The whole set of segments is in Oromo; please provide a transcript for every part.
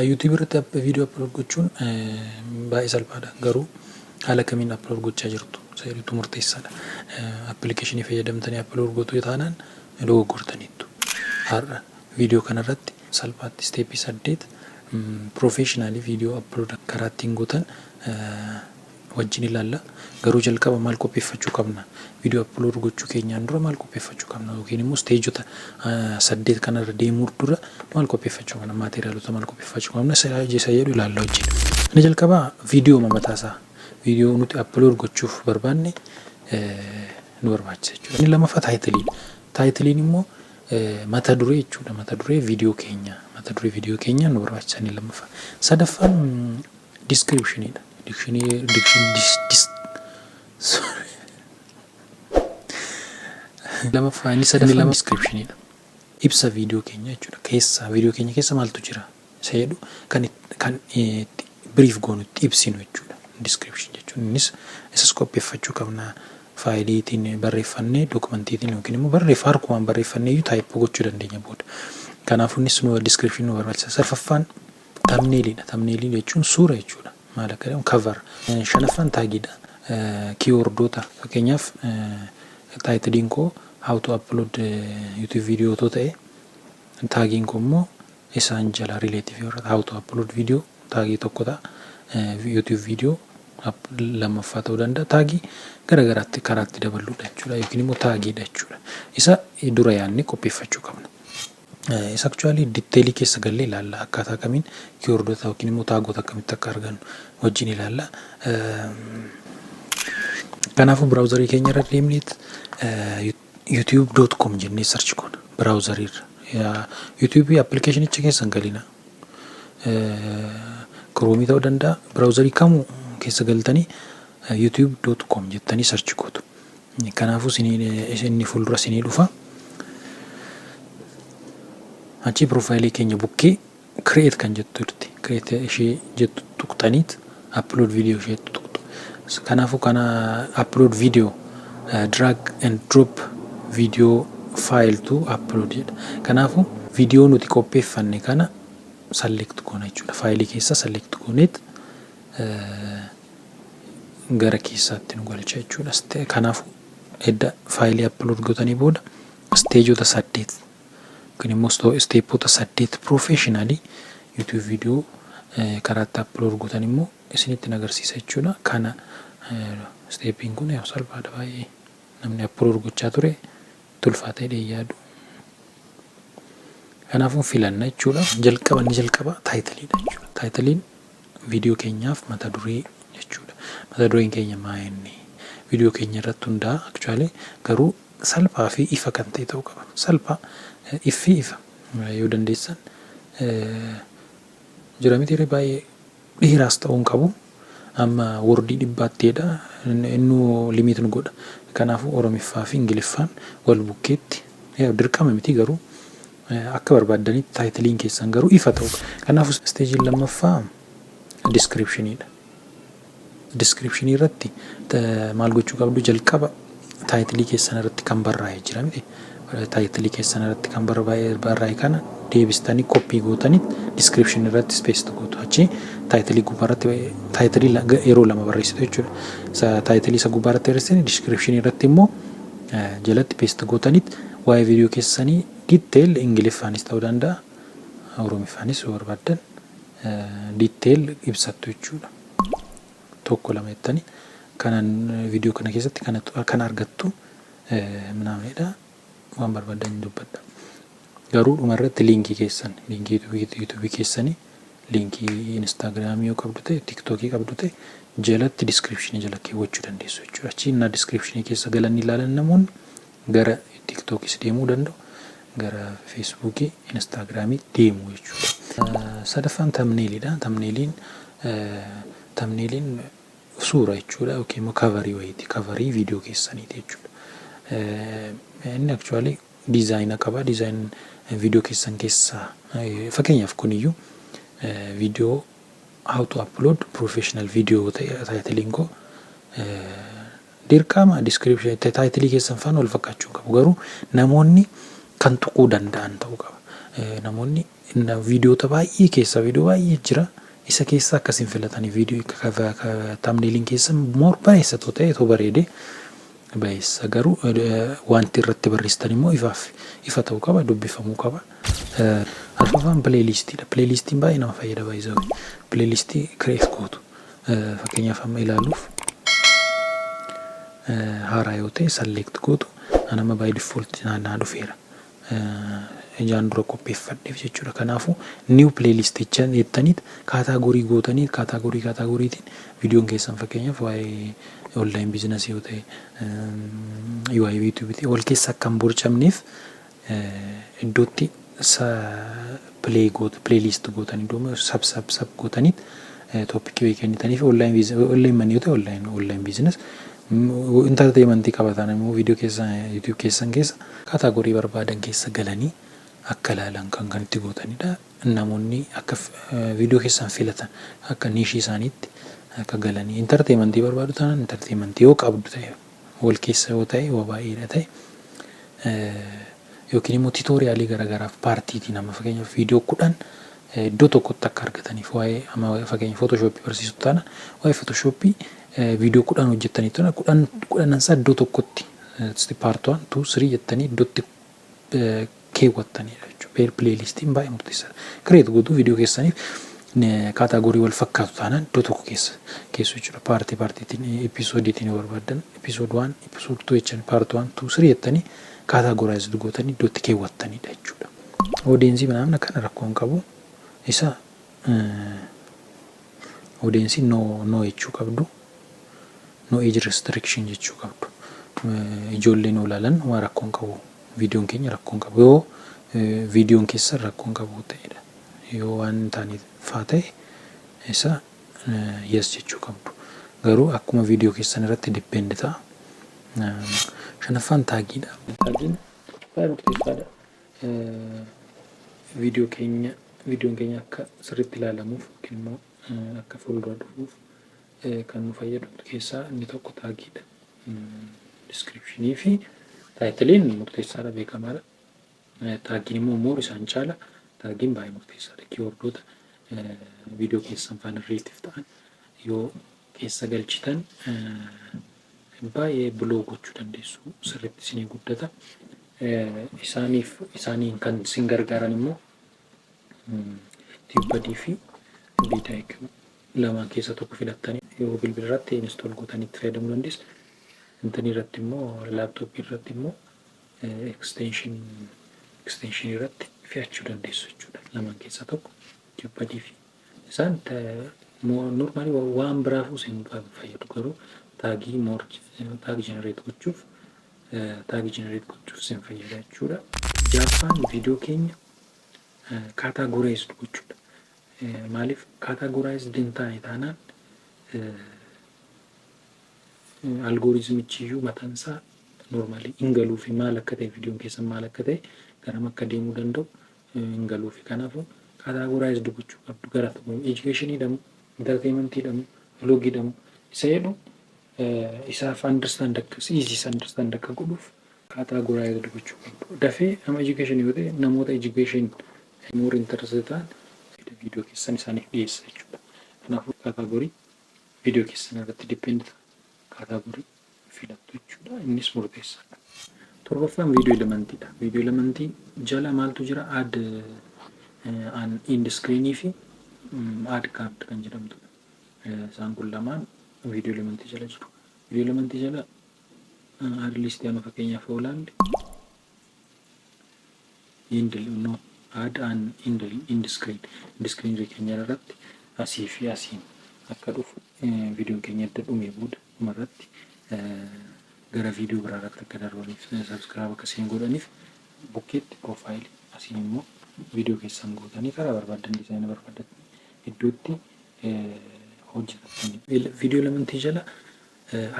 YouTube irratti viidiyoo upload gochuun baay'ee salphaadha garuu haala kamiin upload gochaa jirtu seeriitu murteessaadha. Appilikeeshinii fayyadamtanii upload gotuu taanaan dogoggortaniittu. Har'a viidiyoo kanarratti salphaatti isteepii saddeet piroofeeshinaalii viidiyoo upload karaa ittiin gootan wajjin ilaalla. Garuu jalqaba maal qopheeffachuu qabna? Video upload gochuu keenyaan dura maal qopheeffachuu qabna? Yookiin immoo isteejota saddeet kanarra deemuu dura maal qopheeffachuu qabna? Maateeriyaalota maal qopheeffachuu qabna? Isa isa jedhu ilaalla wajjin. Inni jalqabaa viidiyooma mataasaa viidiyoo nuti upload gochuuf barbaanne nu barbaachisa jechuudha. Inni lammaffaa taayitiliidha. Taayitiliin immoo mata duree jechuudha. Mata duree viidiyoo keenyaa mata duree viidiyoo keenyaa nu barbaachisa inni lammaffaa. Sadaffaan Description dha. Dictionary diction dis dis sorry. Lamaffaa inni sadaffaan description dha. Ibsa viidiyoo keenya jechuudha. Keessa viidiyoo keenya keessa maaltu jira isa jedhu kan it- kan eh, itti brief goonu itti ibsinu jechuudha. Description jechuun innis isas qopheeffachuu qabna. Faayiliitiin barreeffannee dookumantiitiin yookiin immoo barreeffa harkumaan barreeffannee iyyuu taayippoo gochuu dandeenya booda. Kanaafuu innis nu description nu barbaachisa. Sarfaffaan Tamneelii dha. Tamneelii jechuun suura jechuu dha. Maal akka jedhamu cover. Shanaffaan taagii dha. Kiiwordoota fakkeenyaaf taayitiliin koo how to upload YouTube video otoo ta'e taagiin koo immoo isaan jala relative yoo ta'e how to upload video taagii tokko ta'a. YouTube video lammaffaa ta'uu danda'a. Taagii gara garaatti karaatti daballuudha jechuudha yookiin immoo taagii dha jechuudha. Isa dura yaadnee qopheeffachuu qabna. Isa actually detail keessa gallee ilaalla akkaataa kamiin keywordota yookiin immoo taagoota akkamitti akka argannu wajjin ilaalla. Kanaafuu browserii keenya irra deemneet youtube.com jennee search goona browserii irra. YouTube appilikeeshinicha keessa hin galina. Chrome ta'uu danda'a browserii kamuu keessa galtanii youtube.com jettanii search gootu. Kanaafuu inni fuuldura isinii dhufa. Achii piroofaayilii keenya bukkee create kan jettu jirti. Create ishee jettu tuqxaniit upload video ishee tuqxu. Kanaafuu kana upload video drag and drop video file to upload jedha. Kanaafuu viidiyoo nuti qopheeffanne kana select goona jechuudha. Faayilii keessa select gooneet gara keessaatti nu galcha jechuudha. Ste- Kanaafuu edda faayilii upload gootanii booda steejoota saddeet yookiin immoo sto- steepoota saddeet professionally YouTube video eh, karaatti upload gootan immoo isinitti hin agarsiisa jechuudha. Kana eh, steepiin kun yaa'u salphaadha baay'ee namni upload gochaa ture tulfaatee dheeyyaadu. Kanaafuu filanna jechuudha. Jalqaba inni jalqaba taayitiliidha jechuudha. Taayitiliin Viidiyoo keenyaaf mata duree jechuudha. Mata dureen keenya maa inni? Viidiyoo keenya irratti hundaa'a actually garuu salphaa fi ifa kan ta'e ta'uu qaba. Salphaa, iffi ifa yoo dandeessan jira miti ree baay'ee dheeraas ta'uu hin qabu. Amma wordii dhibbaatti jedha innuu limit nu godha. Kanaafuu Oromiffaa fi Ingiliffaan wal bukkeetti dirqama miti garuu Akka barbaaddanitti taayitiliin keessan garuu ifa ta'uu qaba. Kanaafuu isteejiin lammaffaa diskiripshiniidha. Diskiripshinii irratti maal gochuu qabdu jalqaba taayitilii keessan irratti kan barraa'e jira miti. Taayitilii keessan irratti kan barraa'e kana deebistanii koppii gootanii diskiripshinii irratti ispeesiti gootu. Achi taayitilii gubbaa irratti taayitilii yeroo lama barreessitu jechuudha. Isa taayitilii isa gubbaa irratti barreessitanii diskiripshinii irratti immoo jalatti peesiti gootanii Waa'ee video keessanii detail Ingiliffaanis ta'uu danda'a, Oromiffaanis yoo barbaaddan detail ibsattu jechuudha. Tokko lama jettanii kanan video kana keessatti kanatu kana argattu minaaminidha. Waan barbaaddan hin dubbadha. Garuu dhuma irratti liinkii keessan liinkii yuutuubii keessanii liinkii instaagiraamii yoo qabdu ta'e tiktookii qabdu ta'e jalatti diskiripshinii jala keewwachuu dandeessu jechuudha. Achi innaa diskiripshinii keessa galanii ilaalan namoonni gara tiktokis deemuu danda'u gara feesbuukii instaagiraamii deemu jechuudha. Sadaffaan tamneeliidha. Tamneeliin tamneeliin suura jechuudha yookiin immoo kavarii wayiiti kavarii viidiyoo keessaniiti jechuudha. Inni akchuwaalii diizaayina qaba diizaayin viidiyoo keessan keessaa fakkeenyaaf kuniyyuu viidiyoo how to upload professional video ta'e taayitiliin koo Dirqama description itti title keessan faana wal fakkaachuu hin qabu garuu namoonni kan tuquu danda'an ta'uu qaba. Namoonni viidiyoota baay'ee keessaa viidiyoo baay'ee jira isa keessaa akka isin filatanii viidiyoo tamneeliin keessan moor bareessa too ta'e too bareede bareessa garuu wanti irratti barreessitan immoo ifaaf ifa ta'uu qaba dubbifamuu qaba. Arfafaan pileeliistiidha. Pileeliistiin baay'ee nama fayyada baay'isoo pileeliistii kireef gootu. Fakkeenyaaf amma ilaaluuf haaraa yoo ta'e select gootu an amma by default naa dhufeera. Ijaan dura qopheeffadheef jechuudha. Kanaafuu new playlist jecha jettaniit kaataagorii gootanii kaataagorii kaataagoriitiin viidiyoon keessan fakkeenyaaf waa'ee online biizinasii yoo ta'e waa'ee yuutuubii ta'e wal keessa akka hin borcamneef iddootti sa play goota play list gootan iddoo sub sub sub gootaniit topic way kennitaniif online business online man yoo ta'e online online business entertainment qabataan immoo video keessa youtube keessan keessa category barbaadan keessa galanii akka ilaalan kan kan itti gootanidha namoonni akka video keessan filatan akka niishii isaaniitti akka galanii entertainment barbaadu taanaan entertainment yoo qabdu ta'e wal keessa yoo ta'e wa baay'ee dha ta'e yookiin immoo titooriyaalii garagaraaf paartiitiin amma fakkeenyaaf viidiyoo kudhan iddoo tokkotti akka argataniif waa'ee amma fakkeenya footoshoopii barsiisu taana waa'ee footoshoopii viidiyoo kudhan hojjettanii tana kudhan kudhanansaa iddoo tokkotti paartuwaan tuu sirii jettanii iddootti keewwattaniidha jechuudha. Pair playlistiin baay'ee murteessaadha. Create gootu viidiyoo keessaniif kaataagorii wal fakkaatu taanaan iddoo tokko keessa keessu jechuudha. Paartii paartiitiin episoodiitiin yoo barbaaddan episode 1 episode 2 jechan part 1 2 3 jettanii kaataagoraayizd gootanii iddoo itti keewwattaniidha jechuudha. Odeensii minaamin akkana rakkoo hin qabu. Isa odeensii no no jechuu qabdu. No age restriction jechuu qabdu. Ijoolleen olaalan waan rakkoo hin qabu. Viidiyoon keenya rakkoo hin qabu. Yoo viidiyoon keessan rakkoo hin qabu ta'edha. Yoo waan hin taane faa ta'e isa yes jechuu qabdu. Garuu akkuma viidiyoo keessan irratti depend ta'a. Shanaffaan taagiidha. Taagiin baay'ee murteessaadha. Viidiyoo keenya viidiyoon keenya akka sirriitti ilaalamuuf yookiin immoo akka fuuldura dhufuuf kan nu fayyadu keessaa inni tokko taagiidha. Diskiripshinii fi taayitiliin murteessaadha beekamaadha. Taagiin immoo moor isaan caala. Taagiin baay'ee murteessaadha. Kiiwordoota viidiyoo keessan faana rileetiif ta'an yoo keessa galchitan baay'ee buloo gochuu dandeessu sirriitti isinii guddata. Isaaniif isaaniin kan isin gargaaran immoo tiibbadii fi BDIQ lamaan keessaa tokko filattani yoo bilbila irratti install gootanii itti fayyadamuu dandeessu. Intanii irratti immoo laptop irratti immoo extension extension irratti fe'achuu dandeessu jechuudha. Lamaan keessaa tokko Jeopardy fi isaan normally waan biraafuu isin fayyadu garuu taagii more taagi generate gochuuf taagi generate gochuuf isin fayyada jechuudha. Jaaffaan viidiyoo keenya kaataa goreessu gochuudha. Maaliif categorized hin taane taanaan algoritmichiyyuu mataan isaa normally hin galuufi maal akka ta'e viidiyoon keessan maal akka ta'e garam akka deemuu danda'u hin galuufi kanaafuu categorized gochuu qabdu gara tokko education dhamu entertainment dhamu vlog dhamu isa jedhu isaaf understand akka easy understand akka godhuuf categorized gochuu qabdu dafee nama education yoo ta'e namoota education kan more interest ta'an fedha video keessan isaaniif dhiyeessa jechuudha. Kanaafuu category video keessan irratti depend ta'a. Category filattu jechuudha. Innis murteessaadha. Torbaffaan video elementii dha. Video elementii jala maaltu jira? Add an end screen fi add card kan jedhamtudha. Isaan kun lamaan video elementii jala jiru. Video elementii jala add list amma fakkeenyaaf yoo ilaalle Indle unknown Add an indle end screen End screen irra keenya irratti asii fi asiin akka dhufu viidiyoon keenya edda dhumee booda dhuma irratti gara viidiyoo biraa irratti akka darbaniif subscribe akka seen godhaniif bukkeetti profile asiin immoo viidiyoo keessan gootanii karaa barbaaddan dizaayina barbaaddattan iddootti hojjetattan viidiyoo lamantii jala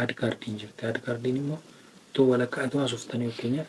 aad kaardiin jirti aad kaardiin immoo otoo walakkaa otoo hasoftanii fakkeenyaaf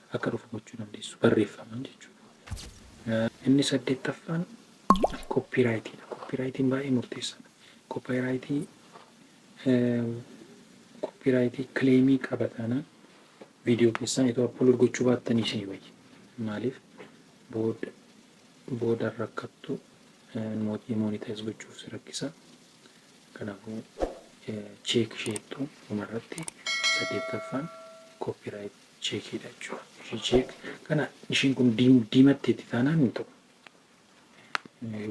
akka dhufu gochuu dandeessu barreeffamaan jechuudha. Inni saddeettaffaan koppiiraayitiidha. Koppiiraayitiin baay'ee murteessaadha. Koppaayiraayitii koppiiraayitii kileemii qaba taanaan viidiyoo keessan itoo apload gochuu baattanii isinii wayya. Maaliif booda booda rakkattu mootii moonitaayiz gochuuf si rakkisa. Kanaafuu cheek isheettu dhumarratti saddeettaffaan koppiiraayit cheekiidha jechuudha. Richeek kana ishiin kun diimatteetti taanaan hin ta'u.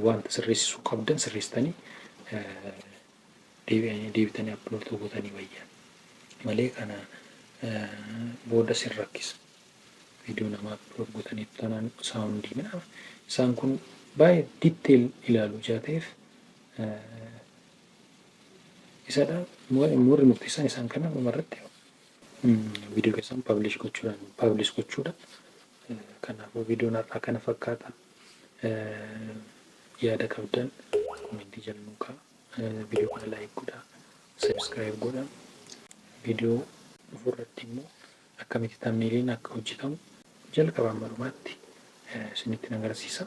Wanta sirreessisuu qabdan sirreessitanii deebitanii appiloodii gootanii wayya malee kana booda sin rakkisa. Viidiyoo namaa appiloodii gootanii taanaan saawundii midhaaf isaan kun baay'ee ditteel ilaalu ijaa ta'eef isadha warri murteessan isaan kana dhumarratti Viidiyoo keessan publish gochuudhaan publish gochuudha. Kanaafuu viidiyoon har'aa kana fakkaata. Yaada qabdan komentii jala nuu kaa'aa. Viidiyoo kana like godhaa. Subscribe godhaa. Viidiyoo dhufu irratti immoo akkamitti tamneeliin akka hojjetamu jalqaba amma dhumaatti isinitti nan agarsiisa.